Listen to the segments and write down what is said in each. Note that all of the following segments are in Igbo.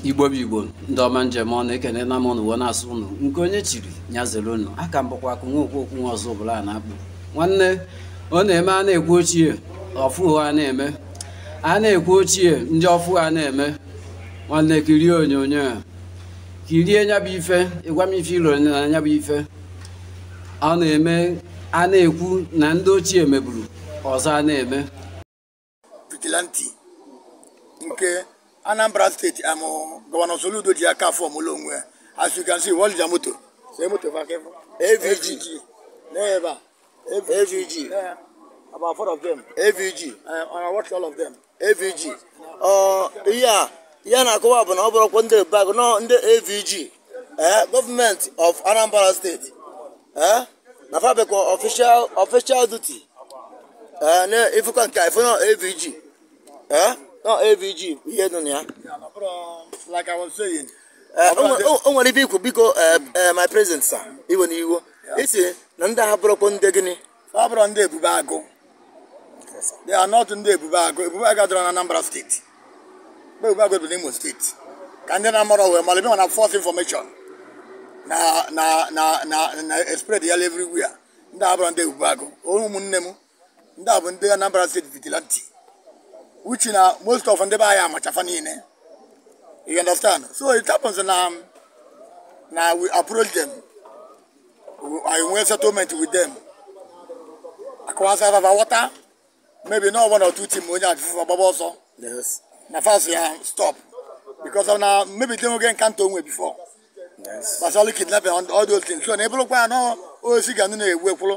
igbo bụ igbo ndị ọma m ji eme ọnụ ekenena m ụnụ ụwa na-asọ ụnụ nke onye chiri nya zere ụnụ aka m bụkwa akụ nwa okwu okwu nwa ọzọ bụla a na-akpụ nwanne ọ na-eme a na-ekwu ochie ọfụ a na-eme a na-ekwu ochie ndị ọfụ a na-eme nwanne kirie onyonyo a kirie nya bụ ife ị gwa m ife i lo na nya bụ ife ọ na-eme a na-ekwu na ndị ochie meburu ọzọ a na-eme vigilante nke Anambra State amụ gọvanọ Soludo ji aka fọmụlụ onwe ya as you can see wọl ja moto see moto fa kefọ AVG n'ebe a AVG Yeah, about four of them AVG uh, I watch all of them AVG ọ ihe a ihe a na-akọwa bụ na ọ bụrọkwa ndị bag nọ ndị AVG eh, gọọmenti of Anambra steeti eh, na fa bịakwa official official duty eh, na ifụkọ nke ifụ na avg eh, na avg ihe nọ na ya Like I was saying, Eh, o nwe- o- o nwere ife ikwu biko eh, eh, my present sir iwe na iwu ị sị na ndị a abụrọkwa ndị gịnị ọ bụrọ ndị ebube agụ they are not ndị ebube agụ ebube agụ adịrọ na anambra steeti mgbe ebube agụ dịrị n'imo steeti ka ndị na-amarọ wee mara ebe mana false information na na na na na spread ya everywhere ndị a abụrọ ndị ebube agụ onye ụmụnne m ndị a bụ ndị anambra steeti vigilante which na most of ndị be anyị amacha fa niile you understand so it happens na na we approach them e nwee settlement with them akọwasịa fa aghọta maybe na ọgbọ na otu tim onye adịfụfa gbaba ọsọ na fa sị ya stop because of na maybe dị nwoke encounter o nwe before gbasara kidnapping all those things so na ebụrụkwa ya na osi ga nụ na-egbu ekwụrụ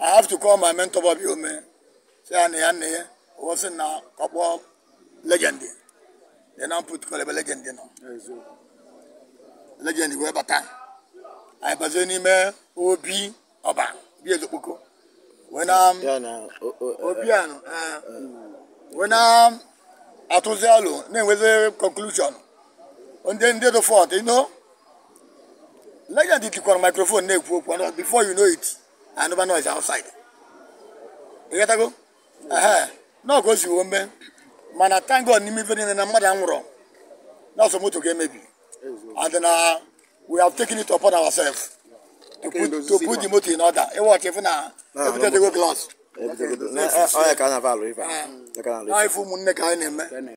I have to call my mentor Bobby Ome sị ya nee ya nee ya o wee sị na ka ọ kpọọ legend they now put call ebe legend nọ legend wee bata anyị bazie n'ime obi ọba obi eze okpoko wee na ya na o- o- obi anụ eh, wee na atụzie alo na-enwezi conclusion ndị ndị dị fọt ino legend tikwara microphone na-ekwu okwu ọnụ before you know it a nụba noise outside ịghọtago ehe nọọ ka o si wee mee mana thank God n'ime ife niile na mmadụ anwụrọ n'ọ sọ moto ka e mebi and na we have taken it upon ourselves to put, to put the motor in order which ị fụ na ebutego glass Ebidogodo. Na- eh, ọ ya ka a na-ava alụ ife a. Ya ka a na-alụ ife a. Ọ ife ụmụnne ka anyị na-eme